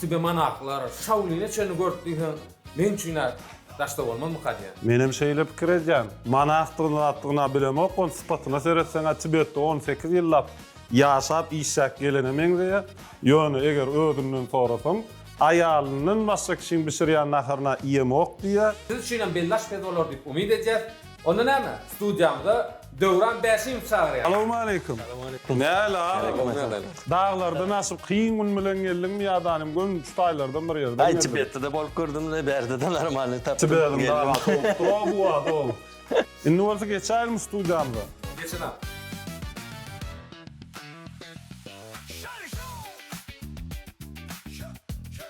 Tübe manaklar, şawlyny çenli görüp diýseň, meň üçin-ä daşda bolmazmyka diýýän. Menem şeýle pikir edýän. Manakdygyny-zatdygyny-a bilemok, ony sypatyna seretseň-ä Tibetde on sekiz ýyllap ýaşap, işläp gelene meňzeýär. Ýöne eger özünden sorasaň, aýalyndan başga kişiň bişirýän naharyny-a iýemok diýýär. Siz üçinem bellaş tez bolar diýip umyt edýäs. Onda näme, studiýamyza Döwran Bäşimowy çagyrýas. Salowmaleýkim. Nähili agam? Daglardan aşyp kyn gün bilen geldiňmi ýa da nim gün şu taýlardan bir ýerden geldimi? Aý Tibetde-de bolup gördüm we bärde-de normalny tapdym. Tibediň dagasy bolupdyr o bu wagt ol. Indi bolsa geçäýelmi studiýamyza. Geçiň agam.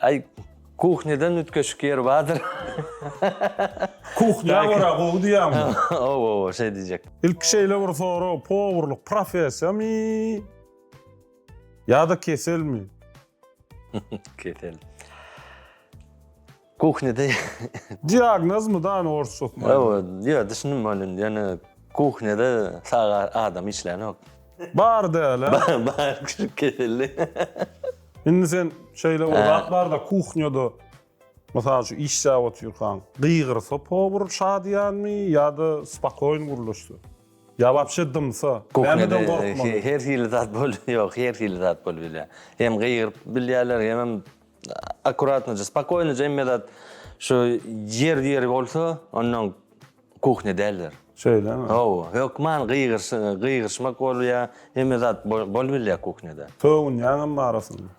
Ay kuhneden ütkeşik yer vardır. Kuhnya gora gowy diýýäňmi? Ow ow şeý diýjek. Ilki şeýle bir sorag, powurlyk professiýamy? Ýa-da keselmi? Kesel. Kuhnede. Diagnozmy da ony orsça okman? Ow, ýa düşündim ony indi. Ýöne kuhnede sag adam işlänok. Bar däl-ä. Bar, bar, küçük keselli. Indi sen şeýle bir zat bar-da, kuhnýada, mysal üçin, işläp otyrkaň, gygyrsa powar şadyýanmy ýa-da spokoýn gürleşse? Ýa wapşe dymsa, nämeden gorkmaly? Her hili zat bolýar, ýok, her hili zat bolýar. Hem gygyryp bilýärler, hemem akkuratnoja, spokoýnoja hemme zat şu ýer-ýeri bolsa, onnoň Kuhnya däldir. Şeýlemi? Hawa, hökman gygyryşmak bolýar, hemme zat bolubilýär kuhnýada. Sögünýäňem arasynda.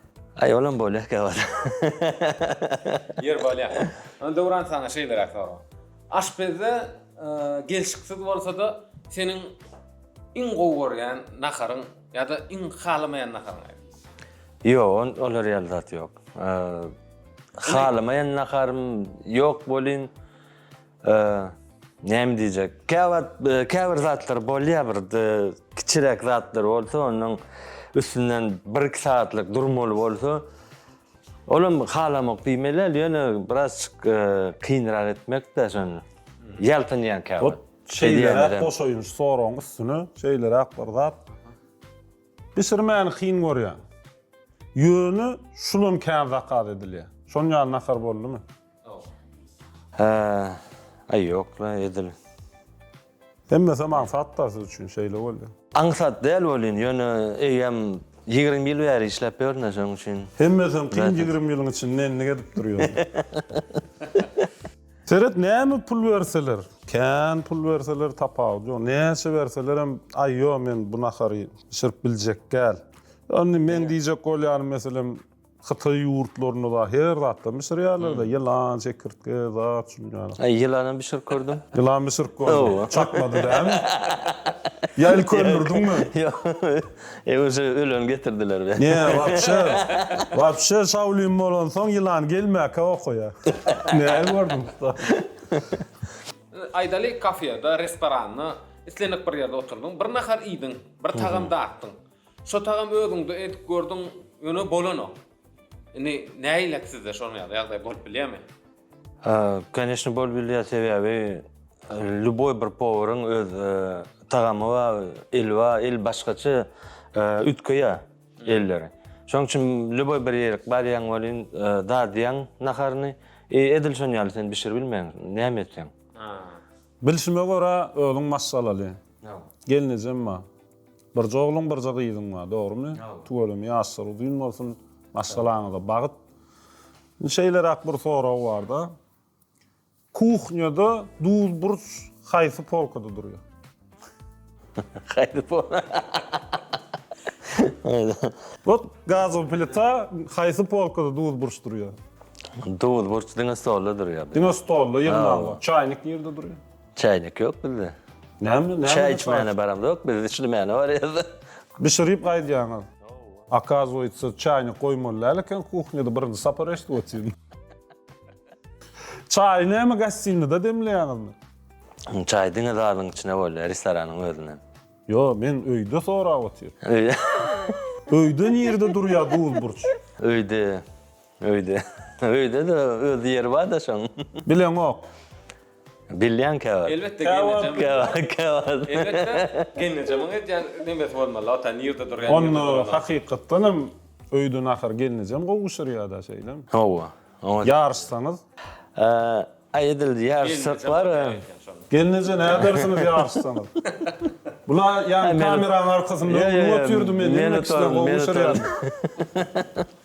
Aý, olam bolýar käwagt. Ýer bolýar. Onda Döwran saňa şeýleräk sorag. Aşpezde gelşiksiz bolsa-da, seniň iň gowy görýän naharyň ýa-da iň halamaýan naharyň aýdyň? Ýok, olar ýaly zat ýok. Halamaýan naharym ýok welin, Näme diýjek? Käwagt käbir zatlar bolýar bir kiçiräk zatlar bolsa onuň üstünden 1-2 sagatlyk durmaly bolsa olam halamak diýmeli ýöne biraz kynrak etmekde şony. Ýaltanýan käwagt. Şeýleräk goşaýyn şu soragyň üstüne şeýleräk bir zat. Bişirmäni kyn görýän. Ýöne şulam kän zakaz edilýär. Şonuň ýaly nahar boldumy? Hää aý ýok la edil. Hemmesem aňsat da siz üçin şeýle bolýa. Aňsat däl welin ýöne eýýäm ýigrimi ýyl bäri işläp ýörün da şoň üçin. Hemmesem kyn ýigrimi ýylyň içinde endik edip durýar. Seret näme pul berseler kän pul berseler tapawudy ýok näçe berselerem aý ýok men bu nahary bişirip biljekgäl ýa indi meň diýjek bolýanym meselem Hytaý ýurtlarynda da her zatdan bişirýärler de, ýylan, çekirtge, zat şunuň ýaly. Aý, ýylanam bişirip gördüm. Ýylan bişirip gördüň. Çatmady dämi? Ýa ilki öldürdiňmi? Ýok. E, uje öleni getirdiler be. Nä, wapşe, wapşe şaolin bolansoň ýylan gelmäkä okaýa. Nähili gördüň usta? Aýdaly, kafeda, restoranda, islendik bir ýerde oturdyň, bir nahar iýdiň, bir tagam datdyň. Şo tagam özüňde edip gördüň ýöne bolanok. Indi näilat sizde şonuň ýaly ýagdaý bolup bilýärmi? Hä, koneşne bolup bilýär sebäbi lýuboý bir powaryň öz tagamy bar, eli bar, el başgaça üýtgeýär elleri. Şonuň üçin lýuboý bir ýerik barýaň welin dadýaň naharyny i edil şonuň ýaly sen bişiribilmeýäň näme etseň. Bilşime görä özüň maşgalaly. Gelnejem bar. Birje ogluň birje gyzyň bar dogrymy tüweleme ýaşlary uzyn bolsun maşgalaňyza bagyt indi şeýleräk bir sorag barda kuhnýada duz burç haýsy polkada durýar. Haýsy pol. Wot gazowy plita haýsy polkada duz burç durýar. Duz burç diňe stolda durýar. Diňe stolda ýygnaga çaýnik nirde durýar. Çaýnyk ýok bizde. Näme näme? Çaý içmäne baramzok biz içlimäne barýarys. Bişirip gaýdýaňyz. Akazuýtsa çaýnyk goýmaly däl eken kuhnýada birinji sapar eşdip otyryn. Çaýy näme gastinada demleýäňizmi? Çaý diňe zalyň içine bolýar restoranyň özünden. Ýo men öýde sorap otyryn. Öýde nirde durýar duz burç? Öýde. Öýde. Öýde-de öz ýeri bar-da şoň. Bileňok. Bilýänkä bar. Elbetde gelnejem. Käwagt, käwagt, käwagt. Elbetde gelnejemiň edýän nemesi bolmaly, wata nirde durýan. Onda hakykatdan hem öýde nahar gelnejem gowuşyrýa-da, şeýlemi? Hawa. Ýaryşsaňyz? Aý edil ýaryşsak bar. Gelneje nädersiňiz ýaryşsaňyz? Bula ýa kameranyň arkasynda öňüňe otyrdy men näme kişiler gowuşyrýaryn.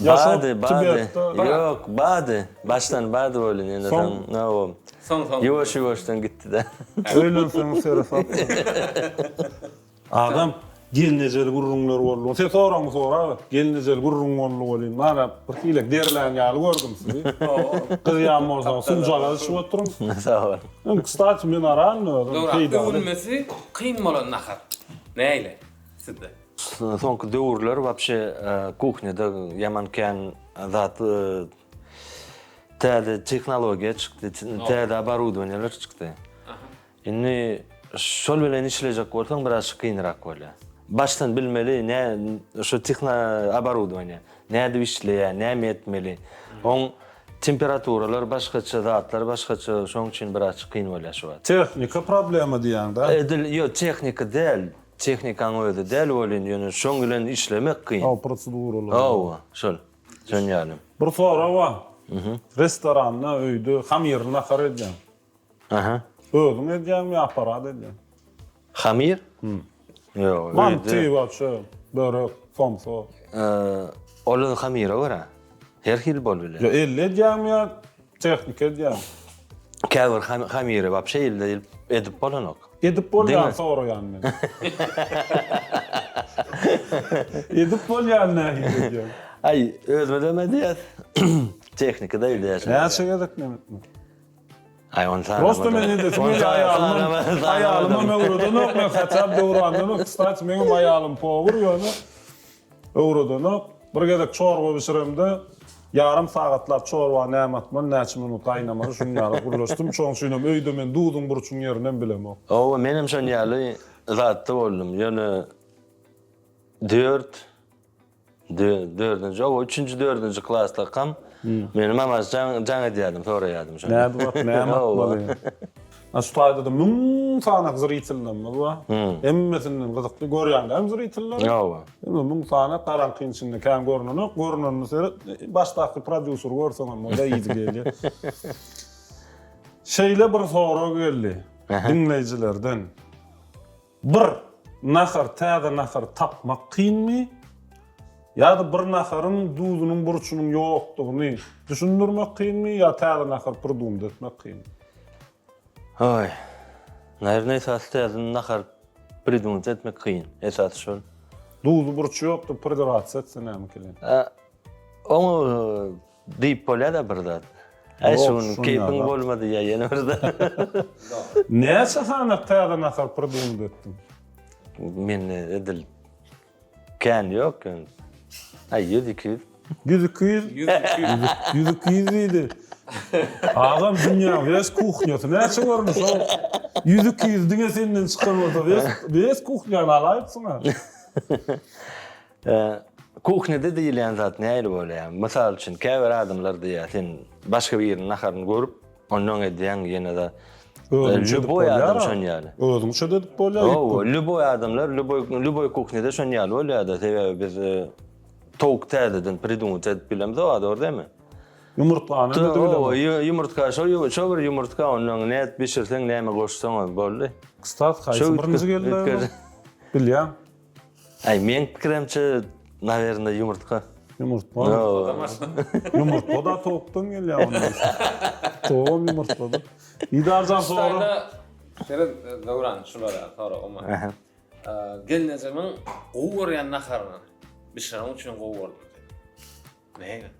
Bady bady yok bady başdan bady bolin ýene soň nowom soň soň ýuwaş ýuwaşdan gitdida öýlenseň sere sap agam gelnejeli gürrüňler boldy sen soragyňy sora aga gelnejeli gürrüň boldy welin mana bir hilek derlän ýaly gördüm sizi gyz ýan bolsaň sunjagaz içip oturyň sag bol öň kstati men aran özüm peýdaly öwülmesi kyn bolan nahar näile. sizde? Soňky döwürler wapşe kuhnýada ýaman kän zat täze tehnologiýa çykdy, täze oborudowaniýalar çykdy. Indi şol bilen işlejek bolsaň biraz kynrak bolýar. Başdan bilmeli ne şu tehna oborudowaniýa nädip işleýär, näme etmeli. Oň temperaturalar başgaça zatlar başgaça şoň üçin biraz kyn bolýar şu wagt. Tehnika problema diýýäňdä? Edil ýok tehnika däl. Tehnikaň özi däl welin ýöne şoň bilen işlemek kyn. Hawa proseduralar. Hawa şol. Şoň ýaly. Bir sorag bar. Restoranda, öýde hamyry nahar edýäň. Aha. Özüň edýäňmi ýa aparat edýär? Hamyr? Ýok. Manty, waçe, börek, somsa. Ol hamyra görä. Her hili bolup biler. Ýa elle edýäňmi ýa Tehnika edýän. Käbir hamiri wapşe ilde edip bolanok. Edip bolýan soraýan men. Edip bolýan nähili edýän? Aý, özümizem edýäs. Tehnika da edýäs. Näçe gezek men etdim. Aý, on sany. Prosta men indi şeýle aýalym. Aýalyma öwredenok men, hatap döwrandan. Kstati, meň aýalym powur ýöne. Öwredenok. Bir gezek çorba bişiremde, ýarym sagatlap çorba näme atmaly, näçe minut gaýnamaly, şunuň ýaly gürleşdim. Şonuň üçinem öýde men duzuň, burçuň ýerininem bilemok. Hawa, menem şonuň ýaly zatda boldum. Ýöne dört, dördünji, hawa, üçünji, dördünji klaslykam meni mamaş jaň edýärdim, soraýardym şony. Nädip at, näme atmaly? Şu taýda-da müň sanak zritellerimiz bar. Hemmesinden gyzykly görýän däl zriteller. Hawa. Indi müň sanak garaňkyň içinde kän görnenok. Görnenini seret, başdaky prodýuseri görseň hem o-da ýiti gelýär. Şeýle bir sorag geldi diňleýjilerden. Bir nahar täze nahary tapmak kynmy? Ýa-da bir naharyň duzunyň burçunyň ýokdugyny düşündirmek kynmy ýa täze nahar pridumda etmek kynmy? Hoý. Naýrne esasy täze nahar pridumda etmek kyn. Esasy şol. Duzy burçy ýokdur pridurasiýa etse näme kyn? Oňa Diýip bolýada bir zat. Äý şu gün keýpiň bolma diýýä ýene bir zat. Näçe sany täze nahar pridumit etdiň? Mende edil kän ýok ýöne. Äý ýüz iki ýüz. Ýüz iki ýüz? Ýüz iki ýüz diýdi. Agam dünýäň wes kuhnýasy näçe görmüş o ýüz iki ýüz diňe senden çykan bolsa wes wes kuhnýany alaýypsyň-a. Kuhnede diýilýän zat nähili bolýar? Mysal üçin, käbir adamlar diýýär, sen başga biriniň naharyny görüp, ondan edýäň, ýene-de Özüňçe edip bolýar. Lýuboý adam şon ýaly. Özüňçe edip bolýar. Hawa, lýuboý adamlar, lýuboý, lýuboý kuhnede şon ýaly bolýar-da, sebäbi biz towuk täzeden pridumyt edip bilemizok, a dogry dämi? Ýumurtgany edip bilemok. Hawa, ýumurtga, şo ýum, şo bir ýumurtga, ondan nädip bişirseň, näme goşsaň boldy. Kstati, haýsy birinji geldi? Bilýän. Ay meň pikirimçe nawerinde yumurtka. Yumurtga. Yumurtga da tavukdan gelýär onda. Tawuk yumurtgadyr. Didarjan sora. Şerif Döwran şulara sora umma. Gelnejemiň gowy görýän naharyny bişireniň üçin gowy gördüm. Näme?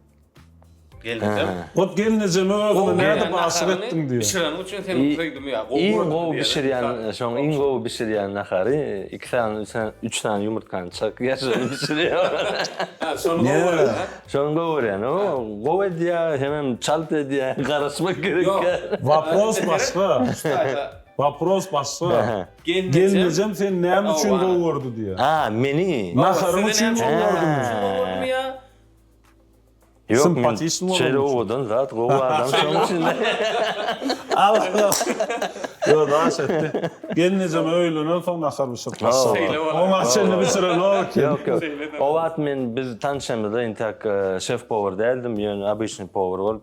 Gelnejem. Ot gelnejeme bagly näde başyk etdiň diýýär. Bişireniň üçin seniň söýgimi ýa gowy gördüm diýýär. Iň gowy bişirýän, şoň iň gowy bişirýän nahary iki sany, üç sany, üç sany ýumurtgany çykyp ýaşyny bişirýär. Hä, şony gowy görýär, hä? Şony gowy görýän. O gowy edýär, hemem çalt edýär, garaşmak gerek. Ýok. Wapros başga. Wapros başga. Gelnejem seni näme üçin gowy gördi diýýär. A, meni? Naharyň üçin gowy gördümi? Ýok, men şeýle owadan zat, gowy adam şoň üçin. Ýok, daş etdi. Gelnejem öýlenensoň nahar bişirip başlapdyr. Oňa çenli bişirenok eken. Ýok, ýok. O wagt men biz tanşamyzda intäk şef-powar däldim, ýöne obyçnyý powar bolup.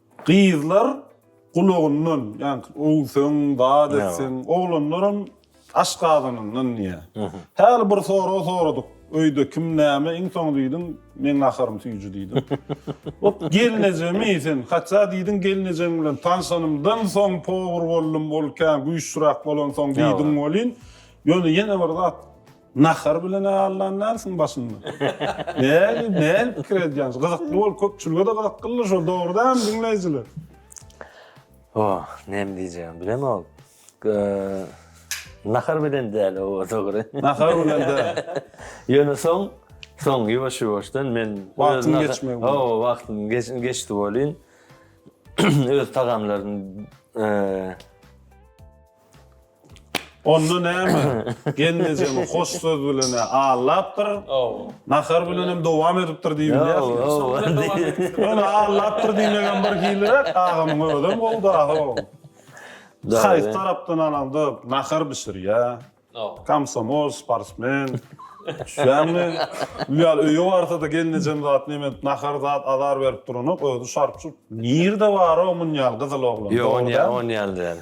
Gyzlar gulagyndan, ýaňky öwseň, zat etseň, oglanlaram aş gazanandan diýýär. Häli bir sorag soradyk, öýde kim näme, iň soňy diýdim, Meň gaharym süýji diýdim. Ot gelnejemi sen, hatda diýdiň gelnejeň bilen tanşanymdan soň power boldum, ol kän güýçlüräk bolansoň diýdiň welin, ýöne ýene bir zat, Nahar bilen allan närsiň başynda. Näli näli pikir edýäňiz? Gyzykly bol köpçülige-de gyzykly şol dogry dämi diňleýjiler? Oh, näme diýjegimi bilemok. Nahar bilen däl oba dogry. Nahar bilen däl. Ýöne soň soň ýuwaş-ýuwaşdan men wagtyň geçmegi. Hawa, wagtyň geçdi welin öz tagamlaryny Onda näme? Gelnejemi hoş söz bilen-ä aldapdyr. Nahar bilenem dowam edipdir diýip bilýärsiň. Ol aldapdyr diýmegem bir hiliräk, agamyň özem gowy-da-how. Haýsy tarapdan alaňda, nahar bişirýär, komsomol, sportsmen. Düşýäňmi? Bu ýaly öýe barsa-da gelnejem zat neme edip, nahar zat azar berip duranok, özi şarp-şurp. Nirde bar-ow munýaly gyzyl oglan? Ýok, on ýaly däl.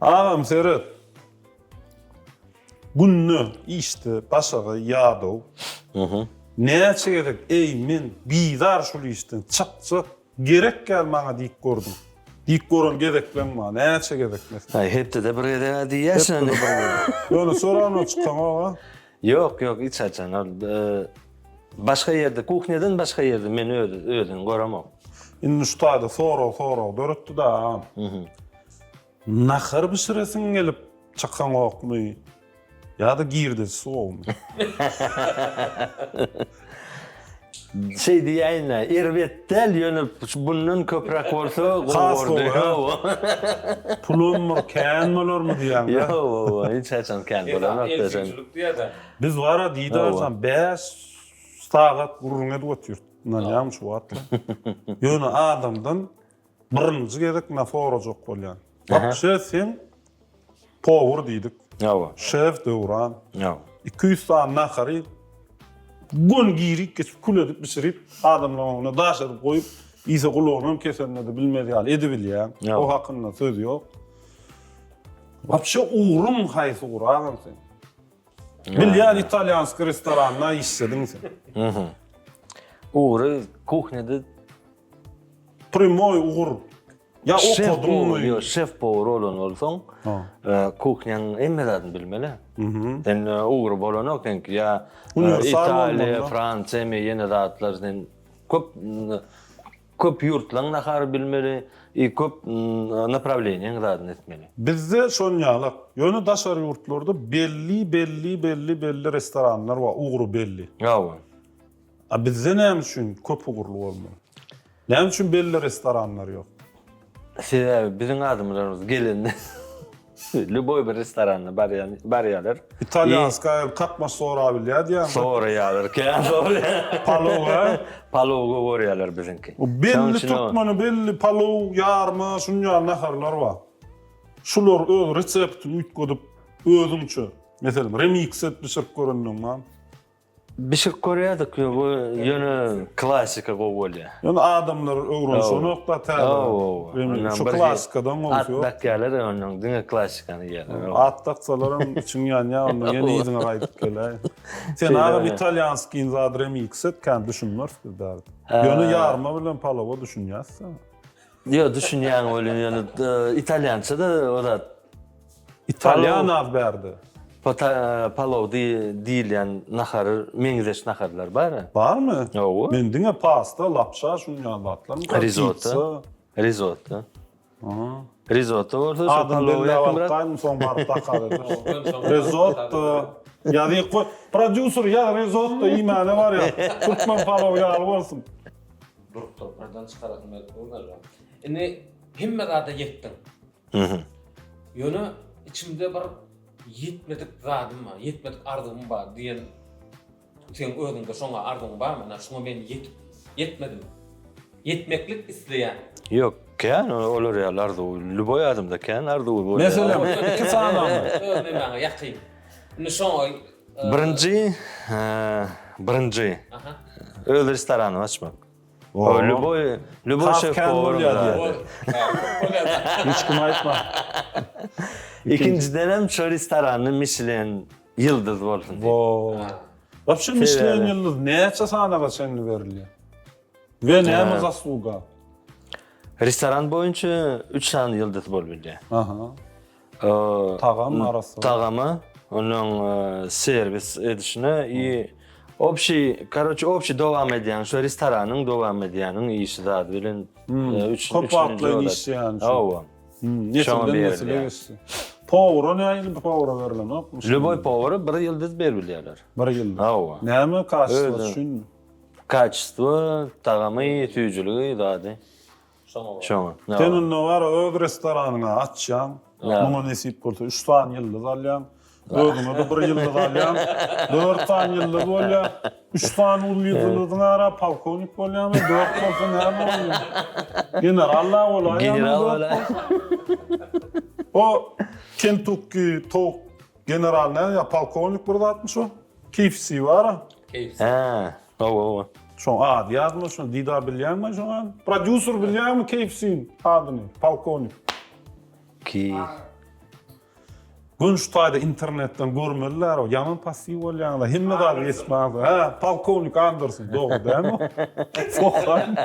Agam seret. Günde işde başaga ýadaw. Näçe gezek eý men bizar şul işden çyk çyk gerek gal maňa diýip gördüm. Diýip gören gezeklem bar näçe gezek mes. Aý hepdede bir gezeg-ä diýýä şony. Ýöne soranyna çykaňoga. Ýok ýok hiç haçan ol başga ýerde kuhnýadan başga ýerde men özüni göremok. Indi şu taýda sorag sorag döretdi-de agam. Nahar bişiresiň gelip çykaňokmy ýa-da girde suwagmy? Şeý diýäýin-ä, erbet däl, ýöne bundan köpräk bolsa gowy bolardy. Pulum bir kän bolarmy diýýäň-dä? Ýo-o, hiç haçan kän bolanok da sen. Biz bar-a Didarjan bäş sagat gürrüň edip otyrdyk, ynanýarmy şu wagtlar? Ýöne adamdan Birinji gezek na sorajak bolýan. Wapşe sen powur diýdik. Hawa. Şef Döwran. Hawa. Iki ýüz sany nahary gün girik geçip kül edip bişirip adamlaryň öňüne daş edip goýup iýse gulagynam kesenini bilmez ýaly edibilýäň. O hakynda söz ýok. Wapşe ugruň haýsy guragan sen? Bilýän italýanski restoranda işlediň sen. Ugry kuhnýada Primoý ugur. Ýa okadyňmy? Ýok, şef powar bolan bolsaň, kuhnýaň hemme zadyny bilmeli. Sen ugry bolanok seňki ýa Italiýa, Fransiýa me ýene zatlar sen köp köp ýurtlaryň nahary bilmeli i köp naprawleniýaň zadyny etmeli. Bizde şonýalak. Ýöne daşary ýurtlarda belli belli belli belli restoranlar bar, ugry belli. Hawa. A bizde näme üçin köp ugurly bolmaly? Näme üçin belli restoranlar ýok? Sebäbi biziň adamlarymyz gelende lýuboý bir restorana barýan, barýarlar. Italýanskaýa kakmaş sorap bilýär diýýäňmi? Soraýarlar, kän soraýarlar. Palowa? Palowy görýärler biziňki. Belli türkmene belli palow, ýarma, şunuň ýaly naharlar bar. Şular öz reseptini üýtgedip, özüňçe, meselem, remix edip bişirip görendigiň barmy? Bişirip görýärdik bu ýöne klasika gowy bolýar. Ýöne adamlar öwrenşenokda täze remi şu klasikadan gowusy ýok. At dakýarlar ondan diňe klasikany iýýärler. At daksalaram içiň ýanýar onda ýene yzyňa gaýdyp geläý. Sen agam italýanskiň zady remix et kän düşünmeris biz bärde. Ýöne ýarma bilen palowa düşünýäs. Ýok, düşünýän welin ýöne italýançada o zat. Italýan az bärde. Pata palow diýilýän nahar, meňzeş naharlar bar. Barmy? Hawa. Men diňe pasta, lapşa şuny ýazlatdym. Risotto. Risotto. Aha. Risotto bolsa şu palow ýakymrak. Adam soň baryp bakar. Risotto. Ýazyk goý. Prodýuser ýa risotto iýmäne barýar. Türkmen palow ýaly bolsun. Durup durup birden çykarasym gelip dur galiba. Indi hemme zada ýetdim. Mhm. Ýöne içimde bir ýetmedik zadym bar, ýetmedik arzuwym bar diýen seň özüňde şoňa arzuwyň barmy? Ine şuňa men ýetip ýetmedim. Ýetmeklik isleýän. Ýok, kän olar ýaly arzuw. Lýuboý adamda kän arzuwy bolýar. Meselem, iki sanaňa. Öz nemäňe ýakyn. Indi şoňa Birinji, birinji öz restoranymy açmak. O, lüboy, lüboy şef bolarym ýa-da. Hiç kim aýtma. Ikinjiden hem şu restoranda Michelin ýyldyz bolsun. Wo. Wapşe Michelin ýyldyz näçe sanaga çenli berilýär? We näme zasluga? Restoran boýunça üç sany ýyldyz bolup bilýär. Aha. Tagam arasy. Tagamy, onuň serwis edişine i obşi, karoçi obşi dowam edýän şo restoranyň dowam edýäniň işi zady bilen üç köp wagtlaýyn işleýän. Hawa. Nesilden nesile geçdi. Powera nähili powera berlenok? Lýuboý powera bir ýyldyz berip bilýärler. Bir ýyldyz. Hawa. Näme kaçystygy üçinmi? Kaçystygy, tagamy, süýjüligi zady. Şoňa. Sen onda bar öz restoranyňy açýaň. Muňa nesip bolsa üç sany ýyldyz alýaň. Özüňe-de bir ýyldyz alýaň. Dört sany ýyldyz bolýar. Üç sany uly ýyldyzyň ara polkownik bolýaňmy, dört bolsa näme bolýar? General-la bolaýýaňmy? O Kentukki towuk general näme ýa polkownik bir zatmy şo? KFC bar-a. Hä. Hawa hawa. Şoň ady ýazma şoň dida bilýäňmi şoň ady. Prodýuser bilýäňmi KFC-iň adyny polkownik. Ki. Gün şu taýda internetden görmeliler o ýaman passiw bolýaňyz hemme zady geçip barýaňyz hä polkownik Anderson dogry dälmi sokan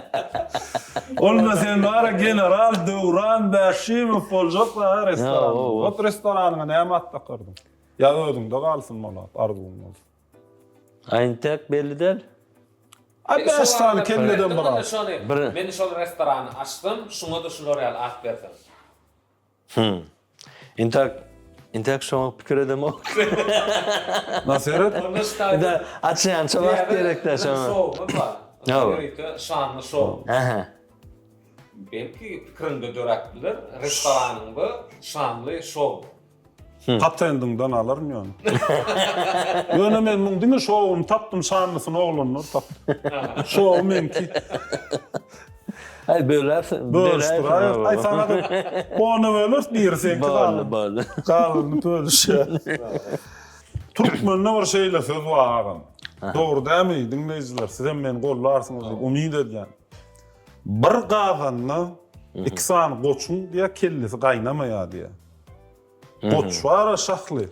onda sen bara general Döwran Bäşimow boljak restoran ot restoranyňa näme at dakardyň ýa özüňde galsyn malat arzuwyň bolsa. Intek belli däl. A bäş sany kelleden bir az. Men şol restorany açsam, şuňa-da şular ýaly at bersem. Hum. Intek Intek şoňa pikir edemok. Naseret. Onda açýança wagt gerek-dä şoňa. Şowumyz bar. Hawa. Ýörite şanly şow. Aha. Belki pikiriňde döräp biler, restoranyňda şanly şow. Patendiňden alaryn ýöne. Ýöne men muň diňe şowuny tapdym, şanlysyny oglanlar tapdy. Şowy meňki. Aý böläs, bölüşdiräýeris. Aý saňa da ony böleris, biri seňki galdy. Boldy, boldy. Galanyny bölüşýäris. Türkmende bir şeýle söz bar agam. Dogry dämi diňleýjiler, sizem meni gollarsyňyz diýip umyt edýän. Bir gazanda iki sany goçuň diýä kellesi gaýnamaýar diýä. Goç bar-a şahly.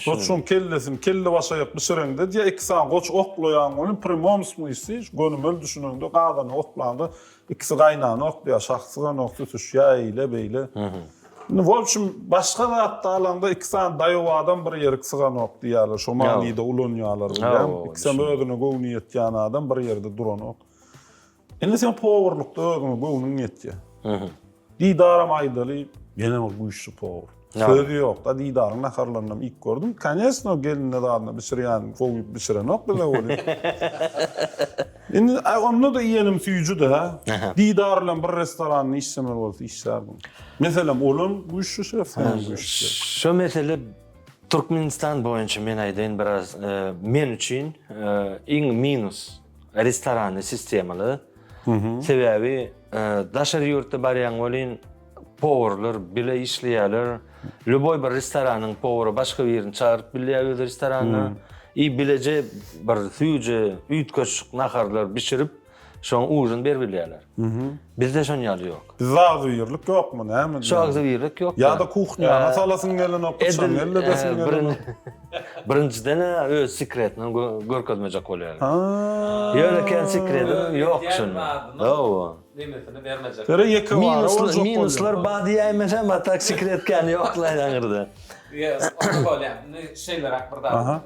Goçuň kellesini kelle başaýak bişireňde diýýär, iki sany goç oklaýaň welin prýmom smysli, gönümel düşüneňde, gazana oklaňda ikisi gaýnana oklaýar, şah syganok tutuşýar eýle-beýle. Indi w obşim başga zatda alaňda iki sany daýaw adam bir ýerik syganok diýýärler, şo manyda ulanýarlar bilýäň, ikisem özüne göwni ýetýän adam bir ýerde duranok. Indi sen powurlukda özüňe göwnüň ýetýär. Didaram aýdaly, ýene bir güýçli powur. Söz ýok-da, Didaryň naharlarynam iýip gördüm. Koneçno, gelinde zadyna bişirýän gowy bişirenok bize welin. Indi onda-da iýenim süýji-de. Didar bilen bir restoranda işlemeli bolsa işlärdim. Meselem, olam güýçli şef, senem güýçli şef. Şu mesele Türkmenistan boýunça men aýdaýyn biraz men üçin iň minus restoranly sistemaly. Sebäbi daşary ýurtda barýan welin powurlar bile işleýärler. Lüboý bir restoranyň powury başga birini çagyryp bilýär öz restoranyna. I bileje bir süýji, üýtgeşik naharlar bişirip, şoň ujyny berip bilýärler. Bizde şony ýaly ýok. Bizde agzybirlik ýokmy, näme diýýäň? Şu agzybirlik ýok. Ýa-da kuhnýana salasyň gelenok, yçan gelledesiň gelenok. Birinjiden öz sekretini görkezmejek bolýar. Ýöne kän sekredim ýok şunuň. Hawa. Limitini bermejek. Ýöne ýekebara bolsa bolýar. Minuslar bad diýäýmesem, a tak sekret kän ýok-la ýaňyrda. Ýa, onda bolýar. Indi şeýleräk bir zat.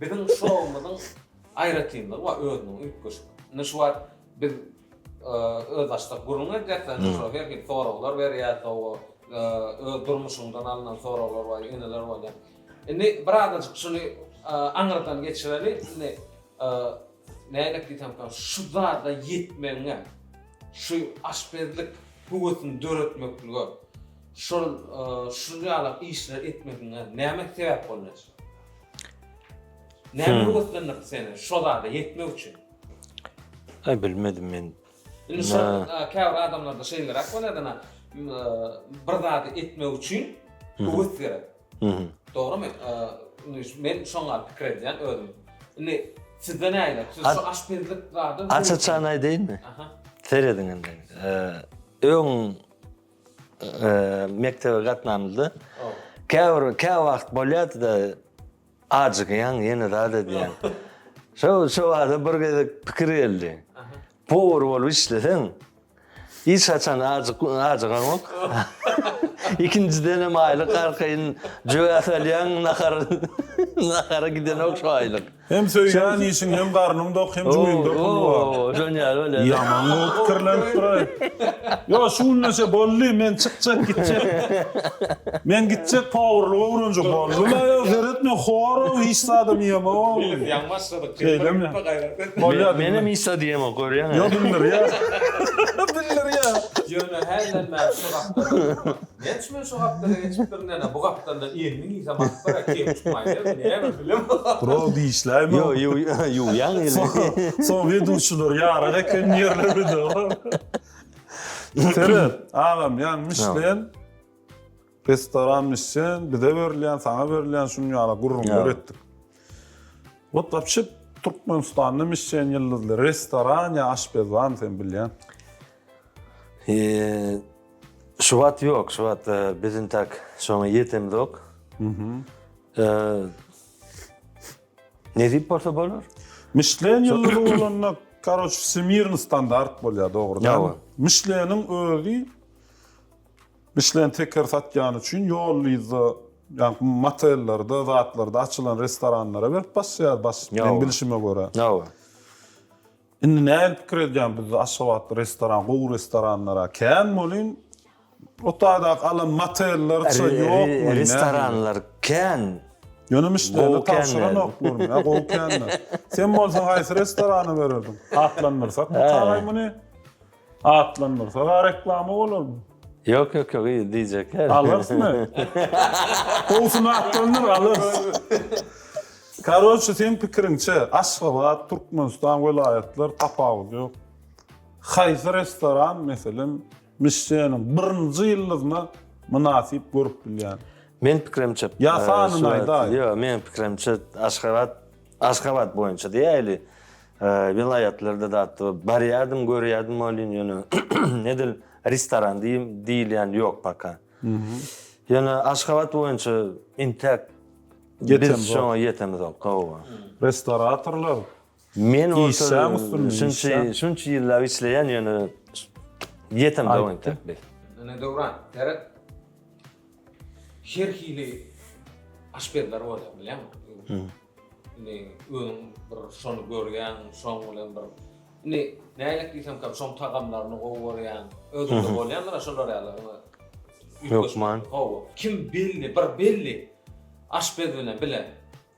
Biziň şoumyzyň aýratynlygy bar özüniň üýtgeşik. Indi şu wagt biz özbaşdak gürrüň edýäs, şoňa her hili soraglar berýäs, sowa öz durmuşyňdan alnan soraglar bar, ýeneler bolýar. Indi bir azajyk şuny aňyrdan geçireli, indi nädip diýsemka, şu zada ýetmegiňe, şu aşpezlik höwesini döretmeklige, şol şuny ýalak işleri etmegiňe näme sebäp bolýar? Näme höweslendirdi seni şo zada ýetmek üçin? Aý bilmedim men. Indi şo käbir adamlarda şeýleräk bolýadana bir zady etmek üçin höwes gerek. Dogrumy? Men şoňa pikir edýän özüm. Indi sizde näle? Siz şu aşpezlik zady Açyçan aýdaýynmy? Aha. Serediň indi. Öň mekdebe gatnamyzda käbir kä wagt bolýardy-da ajygýaň ýene zat edýäň. Şo şo wagtda bir gezek pikir geldi. Powar bolup işleseň hiç haçan ajyk ajygaňok. Ikinjidenem aýlyk arkaýyn jöwä salýaň nahar nahara gidenok şo aýlyk. Hem söýýän işiň hem garnyň dok hem jüýňde pul bar. Oo dönýär welin. Ýaman gowy pikirlenip duraý. Ýok şu günleşe boldy men çykjak gitjek. Men gitjek powurlyk öwrenjek boldy la ýok seretme horow hiç zadam ýemok. Biz ýaňy başladyk şeýdemok gaýrat. Menem hiç zat ýemok görýäňä. Ýok bildirýä. Bildirýä. Ýöne häzirem maňa şu gapdan. Näçe men şu gapdala geçip birden-ä bu gapdaldan elimi giysem aspara kem çykmaýarmy näme bilem. Durok dişläýme. Ýok ýuwýaň elini. Soň eduşylar ýarak eken ýerleride. Seret agam ýan mişlen restoran mişen bize berilýän saňa berilýän şunuň ýaly gürrüňler etdik. Wot wapşe Türkmenistanda mişen ýyldyzly restoran ýa aşpez barmy sen bilýän. Şubat ýok, şubat biziň tak şoňa ýetemzok. Nesip bolsa bolar. Mişlen ýyllygy bolanda, karoç, wsemirin standart bolýar, dogrudanam. Mişleniň özi, Mişlen teker satýany üçin ýollyda, ýagny motellerde, zatlarda açylan restoranlara berip basýar, men bilşime görä. Indi nähili pikir edýän bizde Aşgabatda restoran gowy restoranlara kän bolyn Otaýdaky alan motellerça ýokmy restoranlar kän Ýöne müşderine tabşyranoklarmy ýa gowy känler Sen bolsaň haýsy restorana bererdiň atlandyrsak bu kagaý muny. Atlandyrsa da reklama bolarmy? Ýok ýok ýok yzy diýjekler. Alarsmy? Gowusyny atlandyr alarys. Karoçe seň pikiriňçe Aşgabat, Türkmenistan, welaýatlar tapawudy ýok. Haýsy restoran meselem Mişleniň birinji ýyldyzyna mynasyp görüp bilýän? Meň pikirimçe. Ýa sanyny aýdaý. Ýok meň pikirimçe Aşgabat Aşgabat boýunça diýäýli. Welaýatlarda zat barýardym, görýärdim welin ýöne edil restoran diýilýän ýok paka. Ýöne Aşgabat boýunça intäk biz şoňa ýetemizok. Hawa. Restoratorlar Men şunça şunça ýyllap işleýän ýöne ýetemzok intäk biz. Ine Döwran, seret. Her hili aşpezler bolýar, bilýäňmi? Hmm. Indi özüň bir şony görýäň, şoň bilen bir Indi nälik diýsem kem, şoň tagamlaryny gowy görýän, özünde bolýandyr şolar ýaly. Hökman. Hawa. Kim belli, bir belli aşpez bilen bile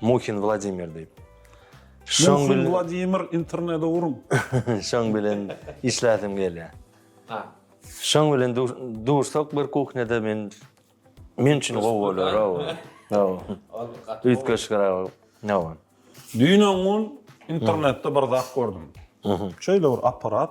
Muhin Wladimir diýip. Şoň bilen. Muhin Wladimir internede uruň. Şoň bilen işläsim gelýär. Ha. Şoň bilen dursak bir kuhnede men men üçin gowy bolar. Hawa. Hawa. Üýtgeşikräk. Hawa. Düýn öňňun internetde bir zat gördüm. Şeýle bir apparat.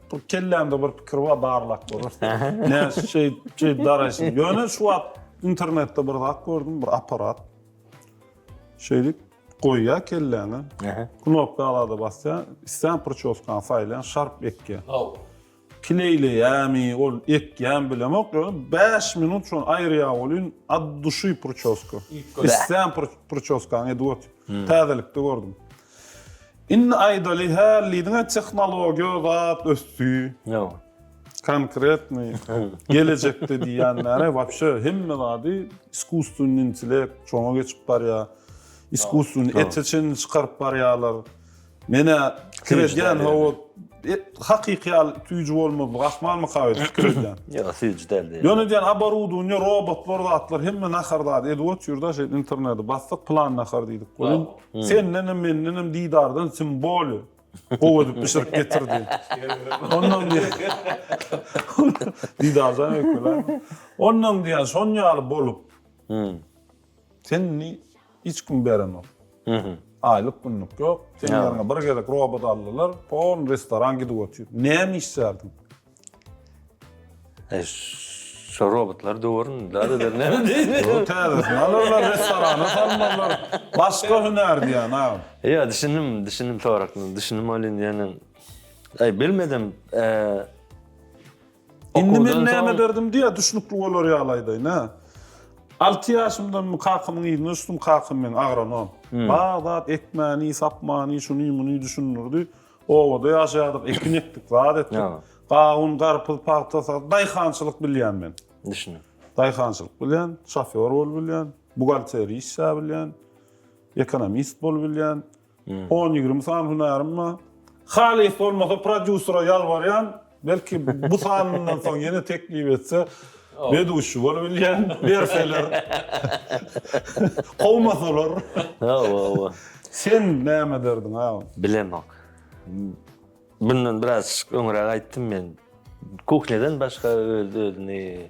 Bir kellämde bir pikir bar, barlap görüp. Näme şeýt, şeýt daraýşyň. Ýöne şu wagt internetde bir zat gördüm, bir apparat. Şeýdip goýýar kelläňe. Knopka alada basýar, isleýän prçoskany saýlaýan, şarp ekýär. Haw. Kleýleýärmi, ol ekýärmi bilemok, ýöne 5 minut şony aýyrýar welin ad duşy prçoska. Isleýän prçoskaňy edip otyr. Täzelikde gördüm. Indi aýdaly hälidiňe tehnologiýa zat ösdi. Ýok. Konkretnyý gelejekde diýýän näre wapşe hemme zady iskusstweniý intellekt şoňa geçip barýar. Iskusstweniý ete çenli çykaryp barýarlar. Menä pikir edýän hawa hakyky ýaly süýji bolmazlygy ahmalmy kaýyr pikir edýän. Ýok süýji däl diýýär. Ýöne diýýän aborudowniýa robotlar zatlar hemme nahar zady edip otyr da şeýdip interneti basdyk plan nahar diýdik. Sendenem mendenem didardan syn boli gowy edip bişirip getirdi. Ondan didardan öküle. Ondan diýen şon ýaly bolup. Sen indi hiç kim berenok. Aýlyk günlük ýok. Sen ýeriňe bir gezek robot aldylar. Pol restoran gidip otyr. Näme işlärdiň? E, şu robotlar döwürün da eder näme diýdi. Ýok, täzesini alyrlar, restorana salmazlar. Başga hünär diýýän agam. Ýa, düşündim, düşündim soragyňy. Düşündim ol indi ýene. Aý, bilmedim. E, Indi men näme ederdim diýä, düşnükli bolar ýaly aýdaýyn, hä. Alty ýaşymdanmy kakamyň yzyna düşdüm, kakam meň agronom. Bar zat ekmäni, sapmany, şuny, muny düşündirdi. Obada ýaşaýardyk, ekin ekdik, zat etdik. Gawun, garpyz, pagta, daýhançylyk bilýän men. Düşündim. Daýhançylyk bilýän, şofýor bolup bilýän, buhgalteriýa işläp bilýän, ekonomist bolup bilýän. 10-20 sany hünärim bar. Halys bolmasa prodýusera ýalbarýan, Belki bu sanyndan soň ýene teklip etse weduşi bolup bilýän berseler. Kowmasalar. Hawa hawa. Sen näme ederdiň agam? Bilemok. Bundan biraz öňräk aýtdym men. Kuhneden başga öz özüni.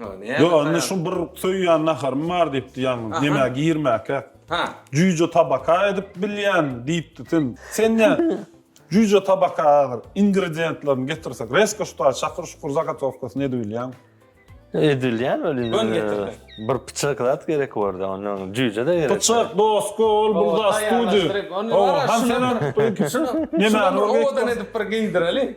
Ýok, indi şu bir söýýän naharym bar diýipdi ýalňyz, ýemäge girmäkä. Ha. Jüýje tabaka edip bilýän diýipdi sen. Sen nä jüýje tabaka hazir ingredientlerini getirsek, resko şutaý şakyr şukur zagatowkasyny edip bilýäňmi? Edip bilýän welin. Göni getirdi. Bir pyçak zat gerek bordy, onda jüýje de gerek. Pyçak dosko ol bir zat studi. Ýemäni owadan edip bir geýdireli.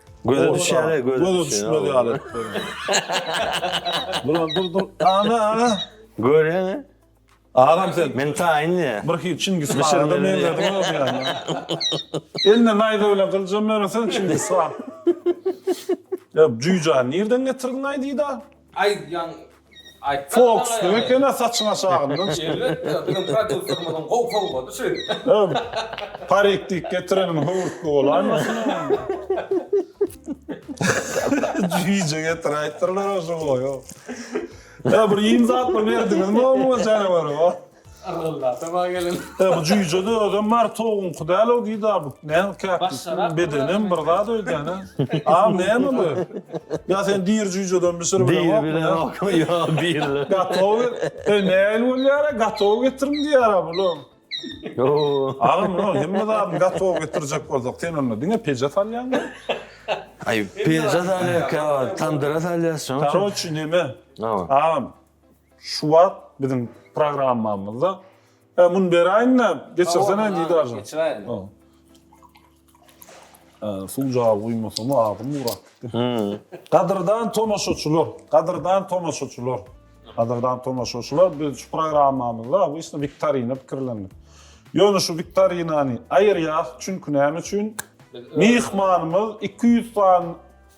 Göze düşýäne göze Göze düşmez ýaly etdi. Duran dur dur. Ana ana. Görýäňä? Agam sen. Men taýyn diýä. Bir hil Çingiz Hana meňzedi olam ýaly. Eline naýza bilen gyljam bermesen Çingiz han. Ýa jüýjäni nirden getirdiň aý Dida? Aý ýaň Fox diňe ekena saçyň aşagyndan çykyp. Elbetde biziň prodýuserimiziň gowy sowgady şu. Öw. Parik diýip getireniň höwürtge bolaýmasyn onuň. Jüýje getiräýipdirler-ow şu boýy. Öw bir iým zat bir berdiňizmi omuňa janawara. Yrgyllasa ba gelin. He bu jüýjede özem bar towugyňky dälow diýdi a bu näme käkdi bedenem bir zat öýdýänä a näme bu ýa sen diri jüýjeden bişir bileňok bileňokmy ýok diriler gatow e nähili bolýar a gatow getiriň diýýär a bul agam munuň hemme zadyny gatow getirjek bolsak sen onda diňe peje salýaňmy aý peje salýarka tandyra salýas şoň üçin koroçi neme agam Şu wagt biziň programmamyzda e, muny beräýin-de, geçirsene diýdi Geçiräýin. Suw jagy guýmasam agzym gurapdy. Gadyrdan tomaşaçylar, gadyrdan tomaşaçylar. Gadyrdan tomaşaçylar, biz şu programmamyzda obýusna wiktorina pikirlendik. Ýöne şu wiktorinany aýyrýas, çünki näme üçin? Myhmanymyz 200 sany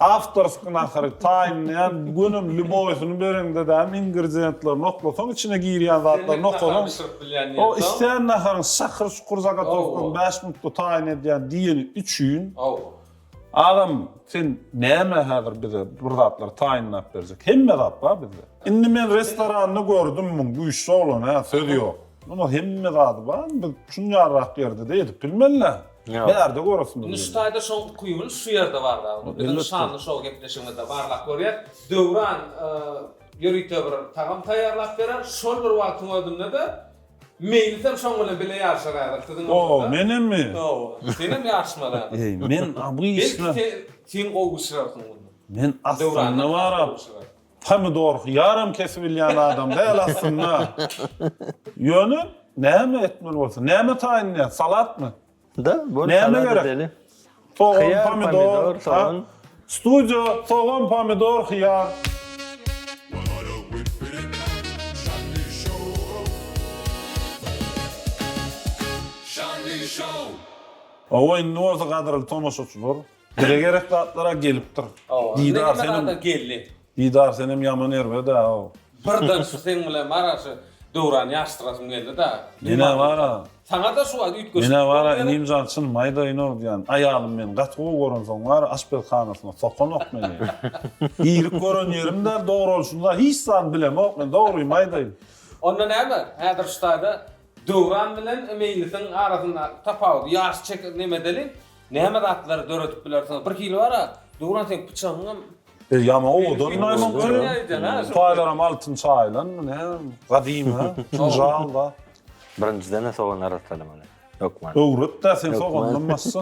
Awtorski nahary taýynlaýan gönüm lýuboýsyny bereňde däl ingredýentlerini oklasaň içine girýän zatlaryny okasaň o islän naharyň şakyr şukur zagatowkany bäş minutda taýyn edýän diýeni üçin agam sen näme häzir bize bir zatlar taýynlap berjek hemme zat bar bizde indi men restoranda gördüm muň güýçli oglan hä söz ýok muňa hemme zady bar biz şunýarrak ýerde-de edip bilmeli. Närde göresim gelýär? Indi şu taýda şoň ukybyny şu ýerde barlag ur. Biziň şanly şou gepleşigimizde barlap görýär. Döwran ýörite bir tagam taýýarlap berer. Şol bir wagtyň özünde-de meýlisem şoň bilen bile ýaryşar häzir siziň bilen. O, menemmi? Hawa. Senem ýaryşmaly häzir. Eý, men bu işde. Belki sen gowy bişirersiň muny. Men aslynda barap, Pomidor ýaram kesibilýän adam däl aslynda. Ýöne näme etmeli bolsa, näme taýyn edýär, salatmy? Da, bol Näme gerek? Sogan, pomidor, sogan. Studio, sogan, pomidor, hyýar. Owo indi bolsa gadyrly tomaşaçylar. Dile gerek zatlara gelipdir. Didar senem geldi. Didar senem ýaman erbeda o. Birden şu seň bilen bara şu Döwrany ýaşdyrasym geldi da. Menä bara. Saňa da şu wagt üýtgeşik. Menä bara inim jan çyn maýda ino diýan aýalym meni gaty gowy gören soň bara aşpezhanasyna sokanok meni. Irik gören ýerim däl dogry ol şunda hiç zat bilemok men dogry maýdaýym. Onda näme häzir şu taýda Döwran bilen Meýlisiň arasyndaky tapawudy ýaş çek nemedeli näme zatlar döredip bilersiňiz bir hili bar a Döwran seň pyçagyňam E ýama owadan naýmaň kyn taýlaram altyn çaýylan bu ne gadymy ha kinjal da. Birinjiden-ä sogan arassalamaly hökman. Öwret-dä sen sogandan başda.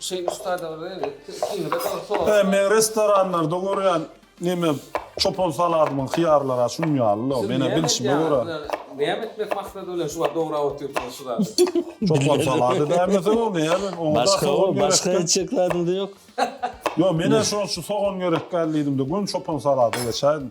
Şeý ussada bir zat etdi, ikiňize de bir sowal. He meň restoranlarda görýän neme çopan saladymyň hyýarlary-a şunuň ýaly-la, men-ä bilşime görä. Näme etmek maksady bilen şu wagt dograp otyrsyňyz şu zady? Çopan salady dämeseň ol näme, oňa-da sogan gerek. Başga etjek zadyň-da ýok? Ýok, men-ä şol şu sogan gerek däl diýdim-de, göni çopan salada geçäýdim.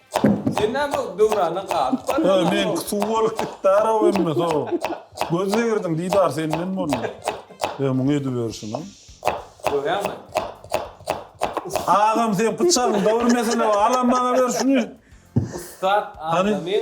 Sen näme döwrana galyp barýaň? Öý, meňki suw bolup gitdar-ow emme, so. Göz degirdiň, Didar, senden boldy. Öý, muňa ediberişini. Görýäňmi? Agam, sen pyçagyň, bir mesele bar, alam maňa ber şuny. Ussat adamyň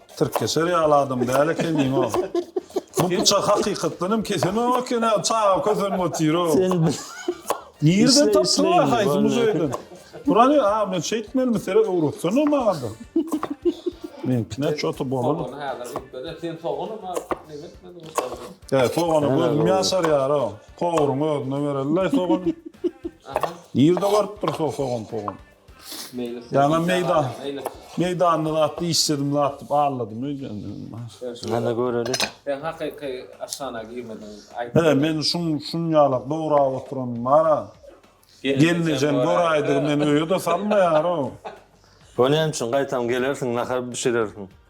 Tirkeşer ýaly adam däl ekeniň o. Bu pyçak hakykatdan hem kesenog eken-ä, çaga kösenip otyr-ow. Sen bir Nireden tapdyň wah haýsy muzeýden? Burany a men şeýtmelimi seret öwretsene maňada. Meňkine çota bolan. Sogany häzir gitmede sen sogany bar neme etmediň ýokarda. He sogana gözüm ýaşar ýaro. Powryň özüne berelilaý sogany. Nirde görüpdir so sogan pogan. Ýana meýda, meýdanda zat dişledim zat dip alladym öýdemdimma. Hana göreli. Sen hakyky aşhana girmediň. He men şun şun ýalak dograp oturan bara. Gelnejem göräýdi men öýe de salmaýar o. O näme üçin gaýtam gelersiň nahar bişirersiň.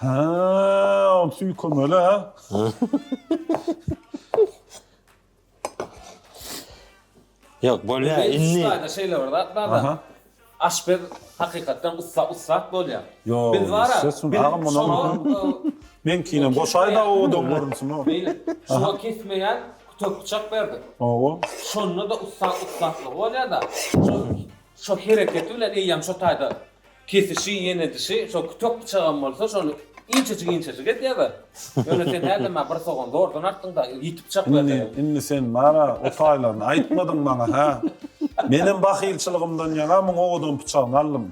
Ha, ol süýkemeli ha. Yok bolya Belli indi. Slayda şeýle bir zat bar da. Aha. Aşpez hakykatdan ussa ussat bolýar. Yo, Biz bar ya, sesini biz agyp munuň. şoňa, e, Men kine goşaýda o dom görünsün o. Beýle. Şoňa kesmeýän kütek bıçak berdik. Owa. Şonda da ussat ussatlygy bolýar da. Şo, şo hereketi bilen eýýäm şo taýda Kesişi, ýenedişi, şol kütek pyçagam bolsa, şony inçejik-inçejik et ýa-da. Ýöne sen häzirem-ä bir sogan zordan artdyň-da, ýiti pyçak ber dedim. Indi, indi sen bar-a, o taýlaryny aýtmadyň maňa, hä? Menem bahylçylygymdan ýaňa muň owadan pyçagyny aldym.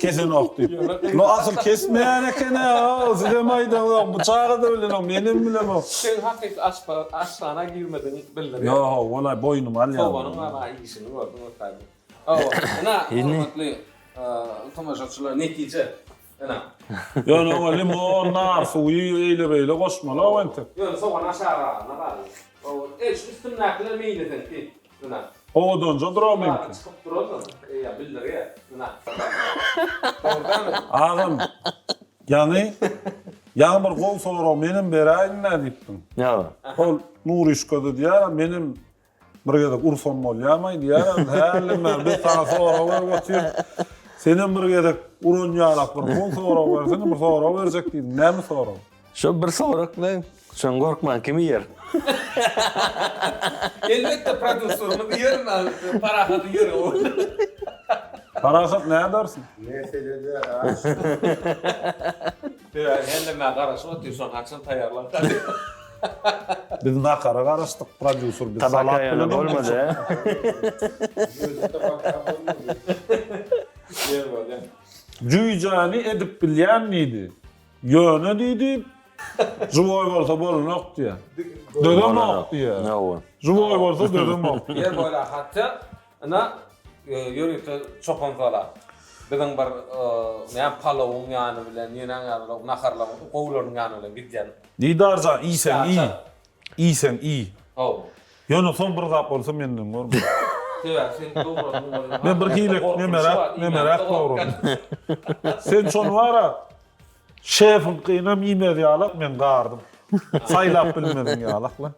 Kesenok diýip. Ýöne asyl kesmeýän eken-ä, o, sizem aýdaňok, bu çaga-da bilenok, menem bilemok. Sen hakyky aşpaz, aşhana girmedigiňi bildirýär. Ýo-o, walaý, boýnuma alýan. Soganyň bar-a, işini gördüň, ökaý, bu. Hawa, ina, hormatly tomaşaçylar, netije, ina. Ýöne oňa limon, nar suwy, eýle-beýle goşmaly-ow entek. Ýöne sogan aşagyragyna galdy. Eý, şu üstündäkiler meýleseň ki, ina. Owadanja durar meňki. Çykyp duraldyr, eý, bildirýär, ina. Agam, ýaňy, ýaňy bir gowy sorag menem beräýiň-dä diýipdiň. Ýa. Ol Nuryşka-da diýýär, menem Bir gezek ursam bolýarmaý diýýärem, hälden bäri biz saňa sorag berip otyr. Senem bir gezek uran ýalak bir son sorag bersene, bir sorag berjek diýdim. Näme sorag? Şo bir sorag bilen şony gorkman kim iýer? Elbetde prodýuserimiz iýer, Parahat iýer ony. Parahat nädersiň? Meselede aç. Döwäň helleme garaşyp otyr şony haçan taýýarlarka. Biz nahara garaşdyk prodýuser biz salat bilen bolmady. Jüýjäni edip bilýän diýdi. Ýöne diýdi Žiwoý bolsa bolunok diýýä. Dözemok diýýä. Žiwoý bolsa dözemok. Ýer boýlaky hatja Ina ýörite çopan sala. Biziň bir näme palowyň ýany bilen, ýene ýaly naharlaryň gowularynyň ýany bilen gidýän. Didar jan, iýseň iý. Iýseň iý. Haw. Ýöne soň bir zat bolsa menden görme. Sebäbi sen dogradym bolýa. Men bir hili nemeräk, nemeräk dogradym. Sen şony bar-a, şefiňkynam iýmez ýalak, men gardym. Saýlap bilmediň ýalak-la.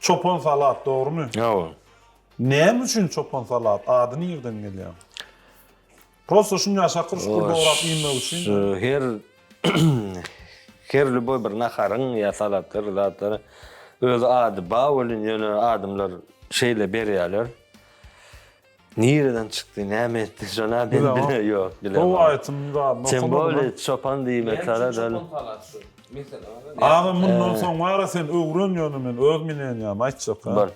Çopan salat dogrymy? Hawa. Näme üçin çopan salat ady nirden gelýär? Prosta şunja şakyr şukur dograp iýmek üçin. Her her lýuboý bir naharyň ýa salatdyr zatdyr öz ady ba welin ýöne adamlar şeýle berýäler. Nireden çykdy näme etdi şona men bile yok bile. Gowy aýtym zadyny okamadyma. Sen boli çopan diýme tara dal. Agam mundan soň bara sen öwren ýöne men öz minenýamy aýtjaka. Bar.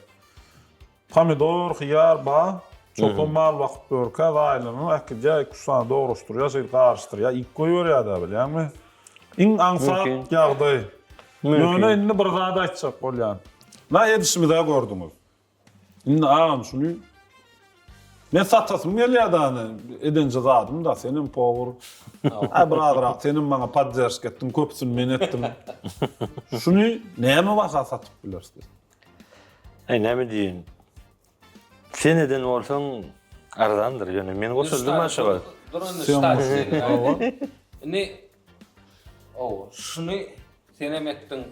Pomidor, hyýar ba, çopan mal bakyp ýörkä zaýlanyp äkidýä iki üç sany dograşdyrýa şeýdip garyşdyrýa iýip goýberýädä bilýäňmi. Iň aňsat ýagdaý. Ýöne indi bir zat aýtjak bolýan. Na edişimizä gördüňiz. Indi agam şuny Men satasym gelýär dany edenje zadym da senem powur. Aý bir azyrak senem maňa podderşk etdiň köpüsini men etdim. Şuny näme baha satyp bileris biz? Aý näme diýin. Sen eden bolsaň arzandyr ýöne men goşuldym aşa. Durun ştaýsy. Indi Ow, şuny senem etdiň.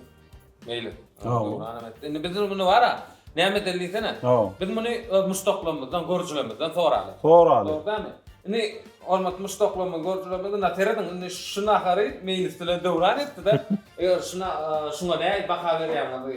Meýli. Ow. Indi biziň muny bar-a. Näme edeli diýsene. Ow. Biz muny öz muşdaklarymyzdan, görjülerimizden soraly. Soraly. Dogry dälmi? Indi hormatly muşdaklarymyz, görjülerimiz indi serediň, indi şu nahary Meýlis bilen Döwran etdi-de. Eger şuna, şuňa näil baha berýäňizi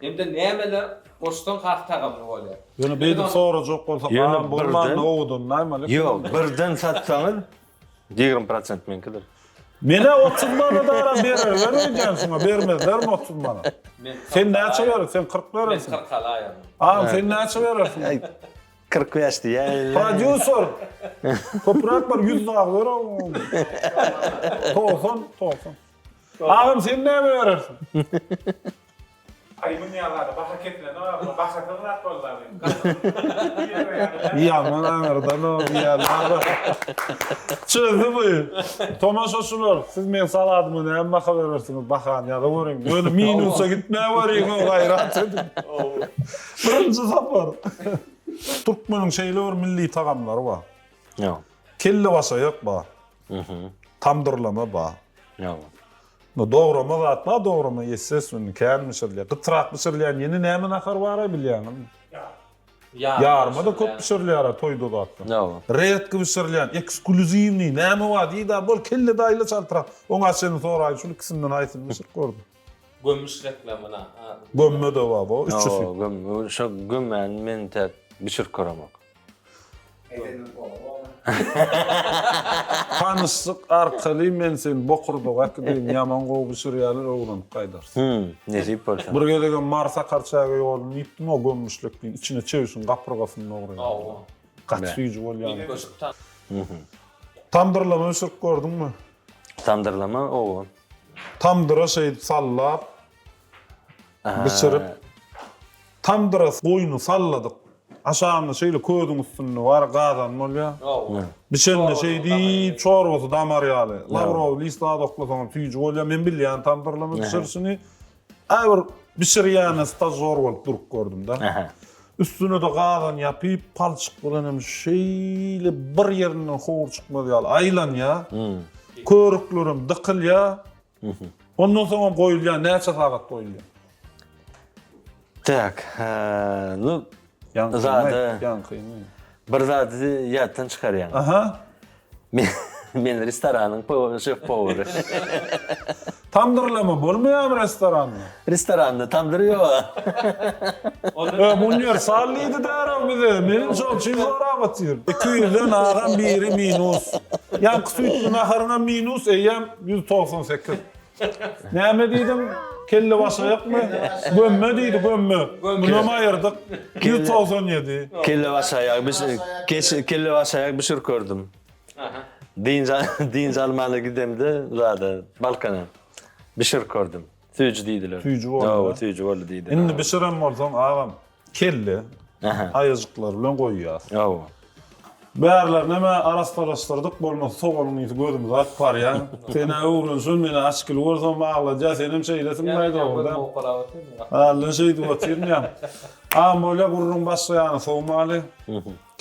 Indi nämeler goşsaň has tagamly bolýar. Ýöne beýdip sorajak bolsa galam bolman nowudan naýmalyk. Ýok birden satsaňyz ýigrimi prosent meňkidir. Menä otuz manadara bererler öýdýän şuňa bermezlermi otuz manat. Sen näçe berer sen kyrk berersiň. Men kyrk alaýaryn. Agam sen näçe berersiň. Kyrk bäş diýäýinler. Prodýuser köpräk bir ýüz dagy ber agam. Togsan togsan. Agam sen näme berersiň. Aý munýa bada baha keplenok a bu bahasyz zat boldy a bu gaty Ýaman aňyrdan ol diýýärler. Çözdi bu. Tomaşaçylar siz meň saladyma näme baha berersiňiz bahany ýaza görüň. Ýöne minusa gitmä görüň ho gaýrat ediň. Birinji sapar. Türkmeniň şeýle bir milli tagamlary bar. Ýa. Kellebaşaýak bar. Tamdyrlama bar. Ýa. Bu dograma zat bar dograma ýetsesunny kän bişirilýär gytrak bişirilýär ýene näme nahar baraý bilýäňizmi ýa ýarmada köp bişirilýärä toýda zatda ýa redki bişirilýän ekskulýuziwniý näme bar diýdä bol kelle daýyla çaltrak oňa çenli soraýyn şul ikisinden haýsyny bişirip gördüň. Gömüş reklamyna a. Gömme de bar bo üçüsi. Gömme şo gömmäni men intäk bişirip köremek. Tanyşlyk arkaly men seni bokurdaga äkideýin ýaman gowy bişirýäler öwrenip gaýdarys. Hümm nesip bolsa. Bir gezegem Mary Sakarçäge ýoldum diýipdim o gömmüşlikliň içine çöwşüň gapyrgasyny dogryýarlar. Gaty süýji bolýar. Tamdyrlama bişirip gördüňmi? Tamdyrlama owo. Tamdyra şeýdip sallap. Bişirip, tamdyra goýny salladyk. Aşagynda şeýle közüň üstünde bar gazan bolýar. Bişende şeýdip, çorbasy damar ýaly. Lawrowy list az oklasaňam süýji bolýar. Men bilýän tamdyrlama bişirişini. Äý bir bişirýäne stažýor bolup durup gördüm-de. Üstüne-de gazan ýapyp, palçyk bilen hem şeýle bir ýerinden howur çykmaz ýaly aýlanýar. Körüklerem dykylýar. Ondan soňam goýulýar, näçe sagat goýulýar? Tak, nu zada ýaňkymy? Bir zady ýatdan çykarýaň. Aha. Men restoranyň şef-powary. Tamdyrlama bolmaýarmy restoranda? Restoranda tandyr ýok-a. Öm uniwersal diýdi däraw bize. Meniň şoň üçin zorap otyr. Iki ýüzden agam biri minus. Ýaňky süýtli naharyňam minus, eýýäm ýüz togsan sekiz. Näme diýdiň? Kellebaşaýakmy? Gömme diýdi, gömme. Munam aýyrdyk. Ýüz togsan ýedi. Kellebaşaýak bişir, kellebaşaýak bişirip gördüm. Dynç, dynç almana gidemde zada, Balkana. Bişirip gördüm. Süýji diýdiler. Süýji boldy. Hawa, süýji boldy diýdiler. Indi bişiren bolsaň, agam, kelle, aýajyklar bilen goýýas. Hawa. Bärlerinem arassalaşdyrdyk, bolmasa sogalyň ysy gözümizi aryp barýa. Sen-ä öwrenşen, men-ä açgil bolsam agladýa, senem şeýlesiň-laý dogry-da. Hälden şeýdip otyryn ýa. Agam bolýa gürrüň başga ýana sowmaly.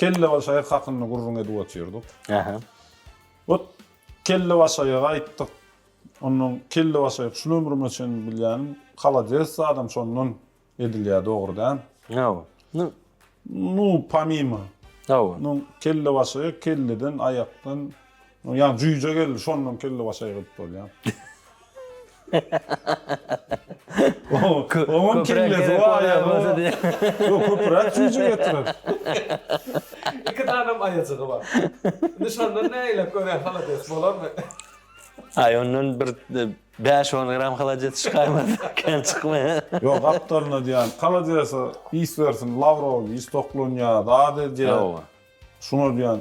Kellebaşaýak hakynda gürrüň edip otyrdyk. Ot, kellebaşaýaga aýtdyk. Ondan kelle başaýyk şul ömrüme çenli bilýänim halades zadam şondan edilýä dogry dämi. Hawa. Nu. Nu pomimo. Hawa. Nu kelle başaýyk kelleden aýakdan ýa jüýje geldi şondan kelle başaýyk edip bolýa. Oňam kellesi bar ýa-da ýok köpüräk jüýje getirer. Iki tanem aýajygy bar. Indi şondan nägile köne halades bolarmy. Aý ondan bir bäş on gram halajet çykaýmaz kän çykmaýa. Ýok gapdalyna diýýän haladjese ys bersin lawrow ys toklanýa zat edýä şuňa diýýän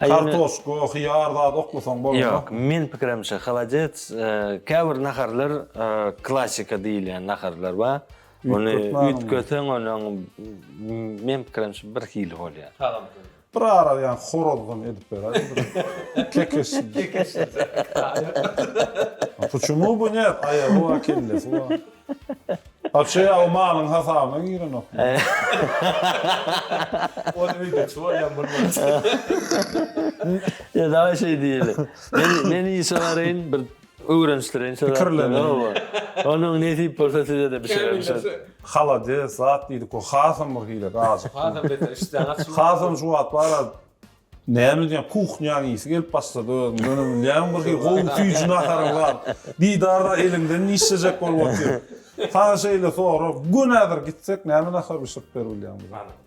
kartoşka hyýar zat oklasaň bolmaz. Ýok men pikirimçe halajet käbir naharlar klasika diýilýän naharlar bar ony üýtgeseň onuň men pikirimçe bir hili bolýa. Tagamsyz. Bir ara ýa horazgam edip beräýdi. Kekeç. Kekeç. Puçumu bu ne? Aýagy wa kellesi wa. Aça ýa o malyň hasabyna girenok. Ony öýde çuwalýan bolmaz. Ýa dawa şeý diýeli. Men işe baryn bir Öwrenişdir ençe zat. Pikirlendiň. Oba. Onuň nesip bolsa sizede bişireris. Halades zat diýdik o hasam bir hile ajykdym. Hasam beter işdäňi açylyp. Hasam şu wagt bara näme diýýän kuhnýaň isi gelip başlady özüm ýöne bilýän bir hil gowy süýji naharyň bar Didarda eliňden nişlejek bolup otyr. Saňa şeýle sorag gönädir gitsek näme nahar bişirip beribilýäň bize.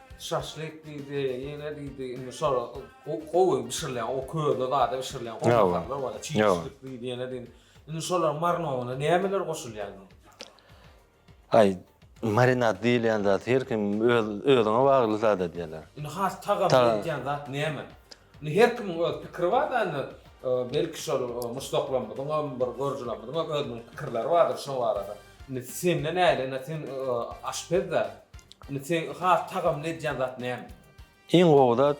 Şaşlyk diýdi, ýene diýdi, indi şol gowy bişirilen, o közde zada bişirilen goňşularlar bar, çişlik diýdi, ýene diýdi. Indi şolaryň marinadyna nämeler goşulýar? Aý, marinad diýilýän zat her kim öz özüňe bagly zat edýärler. Indi has tagam berýän zat näme? Indi her kimiň öz pikiri bar da indi belki şol muşdaklarymyzyňam bir görüjilerimiziňem özüniň pikirleri bardyr şo barada. Indi sende näle indi sen aşpez da. Indi seň has tagamly edýän zat näme? Iň gowy zat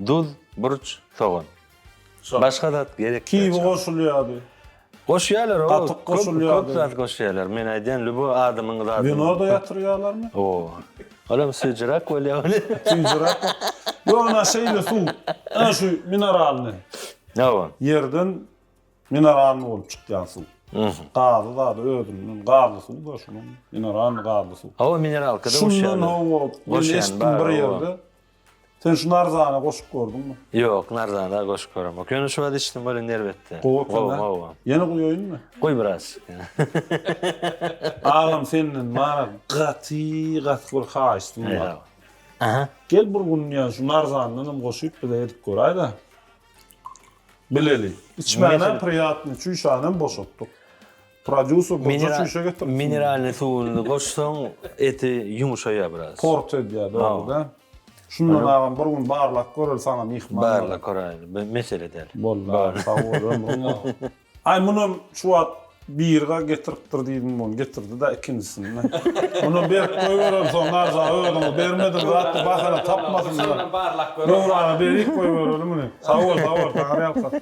duz, burç, sogan. Başga zat gerek däl. Kibi goşulýardy. Goşýalar o Gatyk goşulýar köp zat goşýalar men aýdýan lübo adamyň zady. Winoda ýatyrýalarmy? O. Olam süýjüräk bolýa weli. Süýjüräk. Ýok ina şeýle suw. Ina şu mineralny. Hawa. Ýerden mineralny bolup çykýan suw. Gazy zady özünden gazly suw da şunuň mineralny gazly suw. Hawa mineralka da goşýalar. Şundan hawa goşýan bar. Sen şu Narzana goşup gördüňmi? Ýok, Narzana goşup göremok. Ýöne şu wagt eşitdim welin erbetdi. Gowy ekeni. Gowy. Ýene guýaýynmy? Guý biraz. Agam senden maňa gaty gaty bir haýyştym bar. Aha. Gel bir gün ýa şu Narzandan hem goşyp bize edip göräýdä. Bileli. Içmänem priýatny, çüýşänem boşatdyk. Prodýuser goja çüýşe getiripsiň. Mineralnyý suwuny goşsaň eti ýumuşaýar biraz. Port edýär dogryda. Şundan agam bir gün barlap göreli saňa myhman. Barlap göräýeli. Bir mesele däl. Boldy agam sag bol ömrüň bolsun. Aý munam şu wagt birga getiripdir diýdim bun getirdi-da ikinjisini. Munam berip goýbereli soň naja özüňiz bermediň zat diýip bahana tapmasynlar. Döwrana berip goýbereli muny. Sag bol sag bol Taňyrýalkasyn.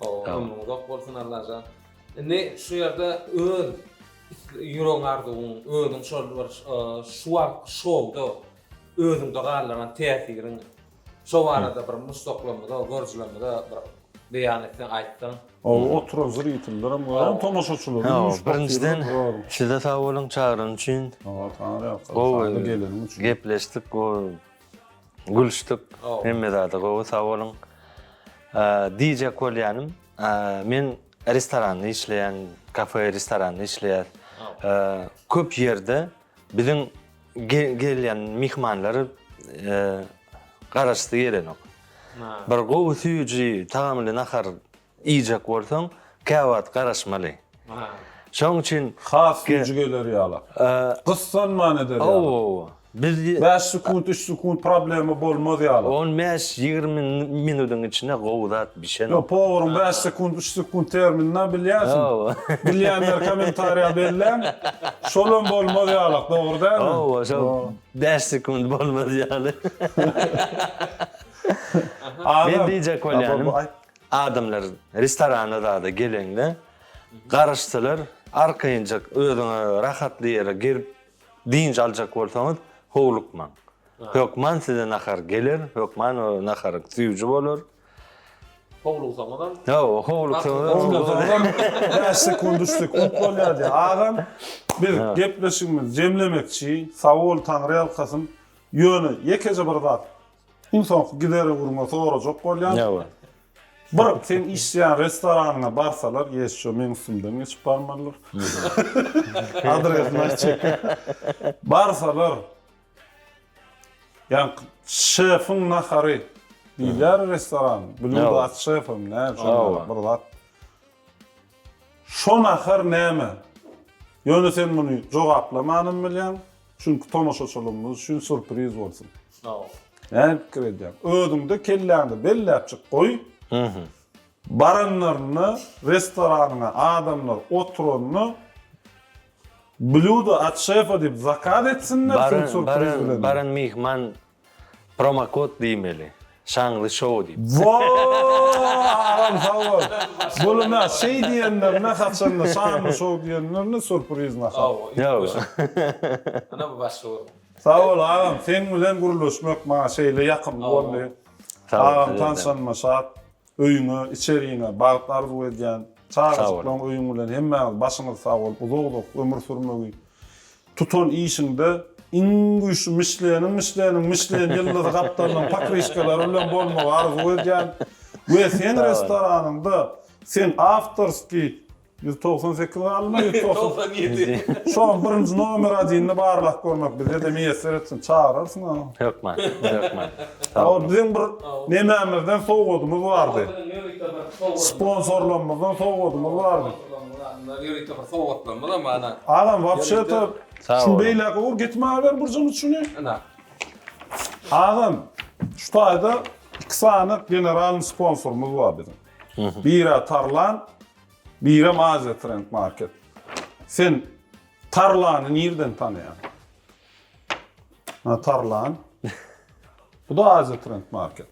Ömrüň uzak bolsun Allajan. Indi şu ýerde öz ýüregiň arzuwyň, özüň şol bir şu wagtky şowda özüňde galdyran täsiriň şo barada bir muşdaklarymyza, görüjilerimize bir beýan etseň, aýtsaň. Oba oturan zritellerem we hem tomaşaçylarym Sag boluň. Birinjiden siz-de sag boluň çagyran üçin. Gowy geleniň üçin. Gepleşdik, gowy Gülüşdik. Hemme zada gowy, sag boluň. Diýjek bolýanym, men restoranda işleýän, kafe, restoranda işleýär. Köp ýerde biziň gelýän myhmanlary garaşasy gelenok. Bir gowy süýji, tagamly nahar. Iýjek bolsaň, käwagt garaşmaly. Şoň üçin. Has güýji geler ýala. Gyssanman eder ýala. Hawa, biz. Bäş sekunt, üç sekunt problema bolmaz ýala. On bäş, ýigrimi minutyň içinde gowy zat bişen. Ýok, poweryň bäş sekunt, üç sekunt terminini-ä bilýärsiň. Hawa. Bilýänler kommentariýa belläň. Şolam bolmaz ýalak, dogry dälmi? Hawa, şol bäş sekunt bolmaz ýaly. Men diýjek bolýanym. Adamlar restorana zada gelende garaşsalar, arkaýynjak özüňe rahatly ýere girip dynç aljak bolsaňyz, howlukmaň. Hökman size nahar geler, hökman o nahar süýji bolar. Howluksaňyzam. Hawa, howluksaňyzam. Oňlasaňyzam bäş sekunt, üç sekunt bolýar diýýär. Agam, biz gepleşigimizi jemlemekçi. Sag bol, Taňryýalkasyn. Ýöne ýekeje bir zat. Iň soňky gidere gürrüňe sorajak bolýan. Bir seň işleýän restoranyňa barsalar ýeşjo meň üstümden geçip barmalylar. Adresini aýtjak. Barsalar ýa şefiň nahary diýilýär restoran, blýudo at şefem näme şonda bir zat. Şo nahar näme? Ýöne sen muny jogaplamanam bilýäň, çünki tomaşaçylygymyz üçin surpriz bolsun. Näme pikir edýäň? Özüň-de kelläňde belläpjik goý. Baranlarynda restoranyňa adamlar oturanda Blýudo at şefa diýip zakaz etsinler, sen surpriz bilen. Baran myhman Promokod diýmeli. Şaňly show diýip. Woow agam sag bol. Buly nä şeý diýenlerine haçanda şanly show diýenlerine surpriz nahar. Ýok. Ana bu başga bir. Sag bol agam seň bilen gürleşmek maňa şeýle ýakymly boldy. Agam tanşanyma şat. Öýüňe, içerigiňe bagt arzuw edýän. Çagajyklaň öýüň bilen hemmäňiz başyňyz sag bolup uzak uzak ömür sürmegi. Tutan işiňde iň güýçli Mişleniň Mişleniň Mişlen ýyldyzy gapdalynyň pokryşkalary bilen bolmagy arzuw edýän we seň restoranyňda seň awtorskiý Ýüz togsan sekiz galdymy, ýüz togsan ýedi? Şoň birinji nomer adynda barlap görmek bizede miýesser etsin, çagyrarsyň a. Hökman, hökman. Sag boluň. Biziň bir nemämizden sowgadymyz bardy. Sponsorlarymyzdan sowgadymyz bardy. Mundan ýörite bir sowgatlarymyzam bar ana. Agam, wapşe-de, şuny beýläk öwür, getirmäber bir jymy şuny. Ana. Agam, şu taýda iki sany generalnyý sponsorymyz bar biziň. Biri-ä Tarlan, Birem Aziýa Trend Market. Sen Tarlany nirden tanaýaň? Ha, Tarlan. Bu-da Aziýa Trend Market.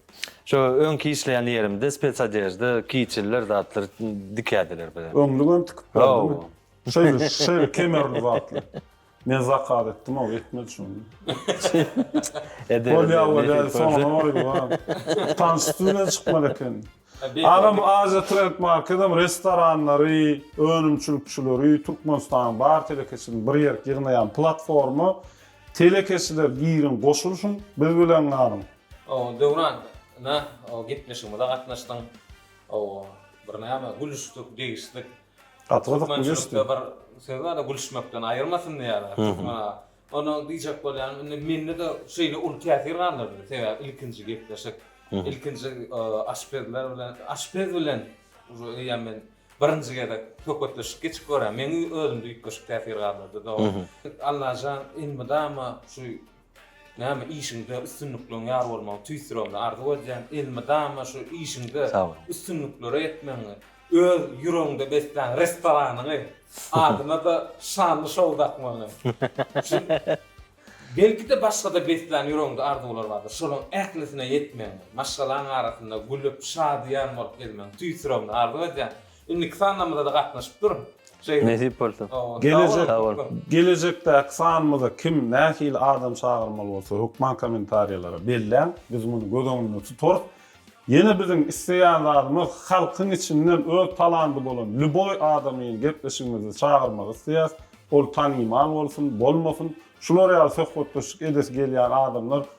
Şo öňki işleýän ýerimde spetsodežda, kiçiller, zatlar dikädiler bize. Öňlügem tikip berdiňmi? Hawa. Şeýle, şeýle kemerli zatlar. Men zakaz etdim o etmedi şony. Eder. Bol ýalla däl soňuna goýdular. Tanşyp bilen çykmaly eken. Agam bu Asia Trend Marketem restoranlary, önümçilikçileri, Türkmenistanyň bar telekeçiligini bir ýerk ýygnaýan platforma. Telekeçiler giriň goşulyşyň biz bilen galyň. Döwran nä gepleşigimize gatnaşdyň. Bir näme gülüşdik, degişdik. Gaty gyzykly geçdi. Türkmençilikde bir söz bar-da, gülüşmekden aýyrmasyn diýýärler. Türkmen aga. Ony diýjek bolýan, indi mende-de şeýle uly täsir galdyrdy. Sebäbi ilkinji gepleşik, ilkinji aşpezler bilen, aşpez bilen uje eýýäm men birinji gezek söhbetdeşlik geçip görýän. Meň özümde üýtgeşik täsir galdyrdy. Doga. Allajan elmydama şu Näme işiňde üstünlikleň ýar bolmagyny tüýs ýüregimden arzuw edýän. Elmydama şu işiňde üstünliklere ýetmegiňi, öz ýüregiňde beslän restoranyňy, adyna-da şanly şou dakmagyňy. Belki-de başga-da beslän ýüregiňde arzuwlar bardyr. Şolaryň ählisine ýetmegiňi, maşgalaň arasynda gülüp, şadyýan bolup gezmegiňi tüýs ýüregimden arzuw edýän. Indiki sanlarymyzada gatnaşyp dur. Nesip bolsa. Gelejek gelejekdäki sanymyza kim nähili adam çagyrmaly bolsa hökman komentariýalara belläň biz muny göz öňünde tutarys. Ýene biziň isleýän zadymyz halkyň içinden öz talandy bolan lýuboý adamyny gepleşigimize çagyrmak isleýäs. Ol tanymal bolsun, bolmasyn. Şular ýaly söhbetdeşlik edesi gelýän adamlar